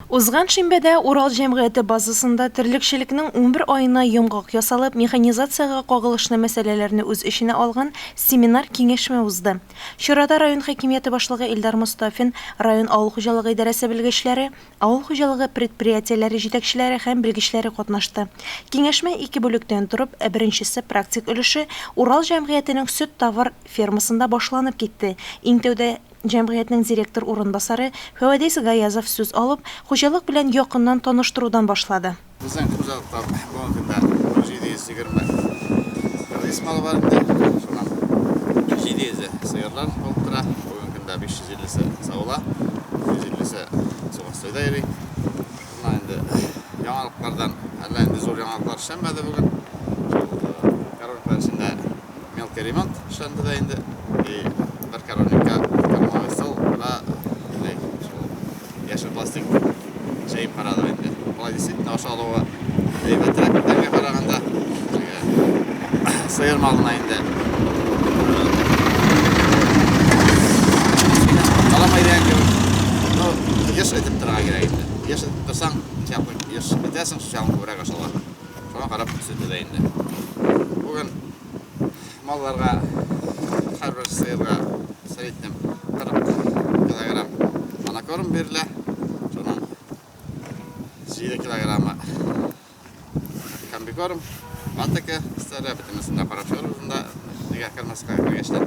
Узган шимбәдә Урал җәмгыяте базасында терлекчелекнең унбер аена йомгак ясалып, механизациягә кагылышлы мәсьәләләрне үз эченә алган семинар-киңәшмә узды. Чарада район хакимияте башлыгы Илдар Мостафин, район авыл хуҗалыгы идарәсе белгечләре, авыл хуҗалыгы предприятиеләре җитәкчеләре һәм белгечләре катнашты. Киңәшмә ике бүлектән торып, беренчесе, практик өлеше Урал җәмгыятенең сөт-тавар фермасында башланып китте. Иң тәүдә. Җәмгыятьнең директор урынбасары Фәвадис Гаязов сүз алып, хуҗалык белән якыннан таныштырудан башлады. Безнең хуҗалыкта бүгенге көндә 1720 рис малы бар инде. Шуннан 700-е сыерлар алып тора. Бүгенге көндә 550-се савыла, 150-се Субастройда йөри. Шуннан инде яңалыклардан әллә нинди зур яңалыклар эшләнмәде бүген. Шул короткы эчендә Мелкий ремонт эшләнде дә инде. И бер коровникка кормовый стол, ра, инде шул яшел пластик җәеп карадым инде. Болай действительно аша алуы әйбәтрәк бүтәнгә караганда. Сыер малына инде. Каламай дигән кебек. Ну, еш әйтеп торырга кирәк инде. Еш әйтеп торсаң, чакын еш итәсең, шуның күбрәк ашалар. Шуңа карап күрсәтә дә инде. Бүген малларга һәрбер сыерга среднем 40 килограмм монокорм бирелә. Шуның 7 килограммы комбикорм, патока, старая битимесында карап чыгар үзендә, нигә кермәскә кергәчләр.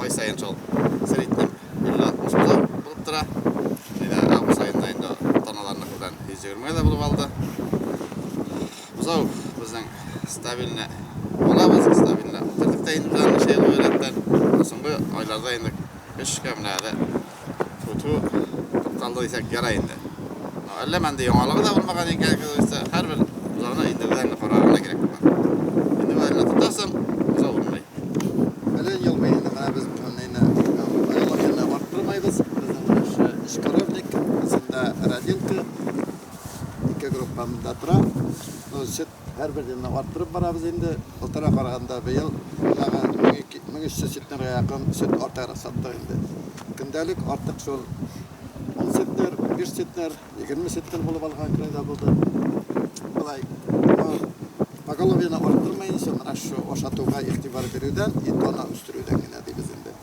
ай сайын шул среднем 50-60 кило булып тора. Әйдә, август айында инде таналарны күргән 120 гә булып алды. Бузау безнең стабильный алабыз, стабильный. Тәртиптә инде безнең шәй рәттән. Соңгы айларда инде 3 кә менә Тфү-тфү, тоткан да дисәк ярай инде. Әллә мәндә яңалыгы да булмаган икән, оказывается, һәрбер зоны инде үзеңне карарга гына кирәк булган. Инде бу әллә тотасың, үзе урынлый. Әле елмый инде, менә без нәйне калорияләрне арттырмыйбыз. Безнең беренче өч коровник, исендә родилка, ике группа монда тора. Ну, Һәрбер елны арттырып барабыз инде. Былтырга караганда быел тагы 1300 центнерга якын сөт артыграк саттык инде. Көндәлек артык шул 10 центнер, 5 центнер, 20 центнер булып алган көн дә булды. Болай поголовьены арттырмаенча, менә шушы ашатуга игътибар бирүдән, ит-ана үстерүдән генә дибез инде.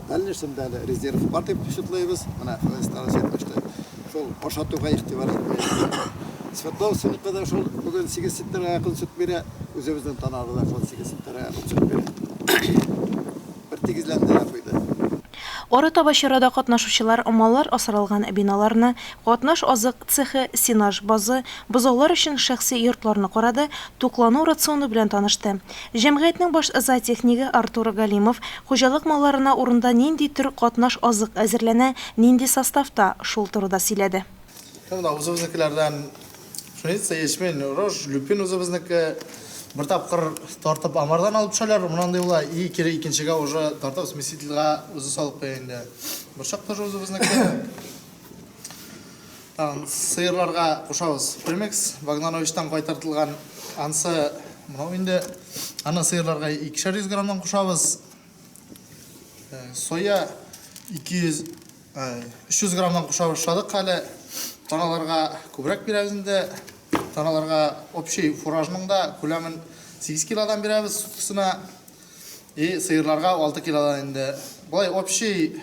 Дальнейшемдә әле резерв бар дип счетлыйбыз. Менә Хәләл старость әйтмешли, шул ашатуга игътибар итмәячәк. Свердлов сыныкы да шул бүген 8 литрга якын сөт бирә, үзебезнең Танарда да шул 8 литрга якын сөт бирә. Бер тигезләндерә куйды. Арытаба чарада катнашучылар маллар асралган биналарны, катнаш азык цехы, сенаж базы, бозаулар өчен шәхси йортларны карады, туклану рационы белән танышты. Җәмгыятьнең баш зоотехнигы Артур Галимов хуҗалык малларына урында нинди төр катнаш азык әзерләнә, нинди составта, шул турыда сөйләде. Шул да үзебезнекеләрдән пшеница, ячмень, рожь, люпин үзебезнеке. Бер тапкыр тартып амардан алып төшәләр, моннан ди була, и кире икенчегә уже тартып смесительгә үзе салып куя инде. Борчак тоже үзебезнеке. Тагын сыерларга кушабыз. Примекс Вагнановичтан кайтартылган ансы мынау инде. Аны сыерларга 200 граммнан кушабыз. Э, соя 200 300 граммнан куша башладык әле таналарга күбрәк бирәбез инде таналарга общий фуражның да күләмен 8 килодан бирәбез суткысына и сыерларга 6 килодан инде болай общий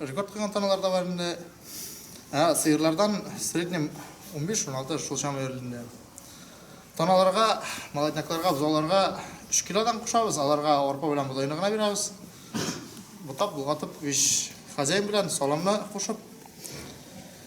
Рекорд куйган таналар да бар инде. Ә сыерлардан в среднем 15-16 шул чама йөрилде. Таналарга, молоднякларга, бозауларга 3 килодан кушабыз, аларга арпа белән бодайны гына бирәбез. Бутап, болгатып, вич хозяин белән саламны кушып,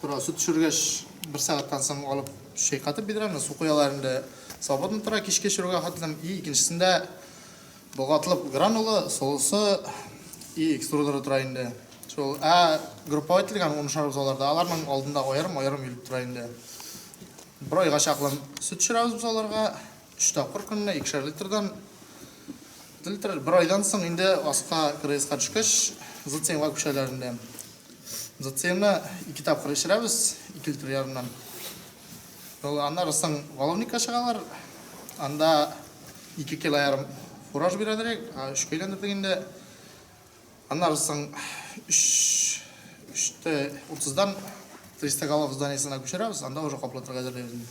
Тора, сөт төшергәч, бер сәгатьтән соң алып чайкатып бидрәне, су куялар инде. Свободно тора, кичке чорга хатыным. И икенчесендә болгатылып гранула, солысы и экструдеры тора инде. Шул, ә группа ителгән унышар бозауларда, аларның алдында аерым-аерым йөреп тора инде. Бер айга чаклы сөт төшерәбез бозауларга. Өч тапкыр көненә икешәр литрдан литр. Бер айдан соң инде аска крейска төшкәч, зациемга күчәләр инде. Зациемны ике тапкыр эчерәбез, ике литр ярымнан. Аннары соң валовникка чыгалар. Анда ике кило ярым фураж бирәләр, өчкә әйләндердек инде. Аннары соң өчте утыздан триста голов зданиесына күчерәбез, анда уже каплатырга әзерләйбез.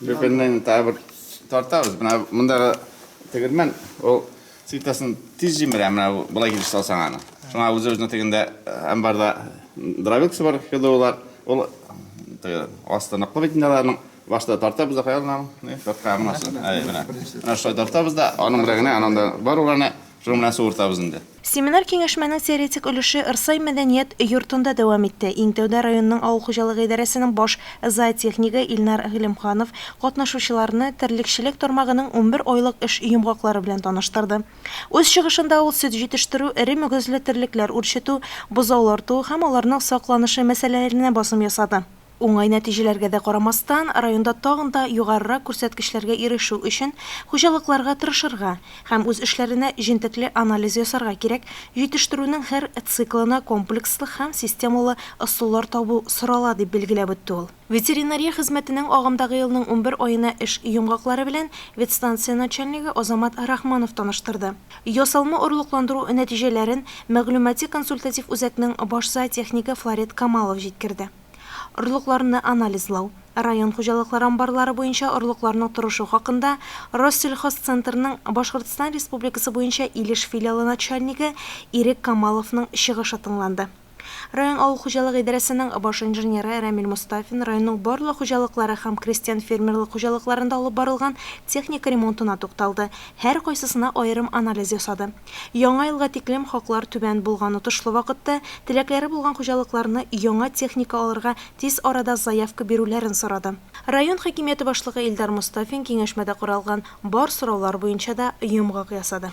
Бөкеннән тағы бер тартабыз. Менә мондагы тегермән ул цитасын тиз җимерә, менә болай килеш салсаң аны. Шуңа үзе үзенә тегендә амбарда дровилкасы бар, ХДУлар. Ул асты ныклы бит инде Башта тартабыз да куябыз аны. Тартка гына. Менә шулай тартабыз да, аның белән генә ананда бар уларны Шуның белән суыртабыз инде. Семинар-киңәшмәнең теоретик өлеше Ырсай мәдәният йортында дәвам итте. Иң тәүдә районның авыл хуҗалыгы идарәсенең баш зоотехнигы Илнар Гыйлемханов катнашучыларны терлекчелек тармагының унбер айлык эш йомгаклары белән таныштырды. Үз чыгышында ул сөт җитештерү, эре мөгезле терлекләр үрчетү, бозаулар туу һәм аларның сакланышы мәсьәләләренә басым ясады. Уңай нәтиҗәләргә дә карамастан, районда тагын да югарырак күрсәткечләргә ирешү өчен хуҗалыкларга тырышырга һәм үз эшләренә җентекле анализ ясарга кирәк, җитештерүнең һәр циклына комплекслы һәм системалы ысуллар табу сорала, дип билгеләп үтте ул. Ветеринария хезмәтенең агымдагы елның унбер аена эш йомгаклары белән ветстанция начальнигы Азамат Рахманов таныштырды. Ясалма орлыкландыру нәтиҗәләрен мәгълүмати-консультатив үзәкнең баш зоотехнигы Флорет Камалов җиткерде. Орлыкларны анализлау, район хуҗалыклар амбарлары буенча орлыкларның торышы хакында Россельхозцентрның Башкортстан Республикасы буенча Илеш филиалы начальнигы Ирек Камаловның чыгышы тыңланды. Район авыл хуҗалыгы идарәсенең баш инженеры Рәмил Мостафин районның барлык хуҗалыклары һәм крестьян-фермерлык хуҗалыкларында алып барылган техника ремонтына тукталды, һәркайсысына аерым анализ ясады. Яңа елга тиклем хаклар түбән булган отышлы вакытта теләкләре булган хуҗалыкларны яңа техника алырга тиз арада заявка бирүләрен сорады. Район хакимияте башлыгы Илдар Мостафин киңәшмәдә каралган бар сораулар буенча да йомгак ясады.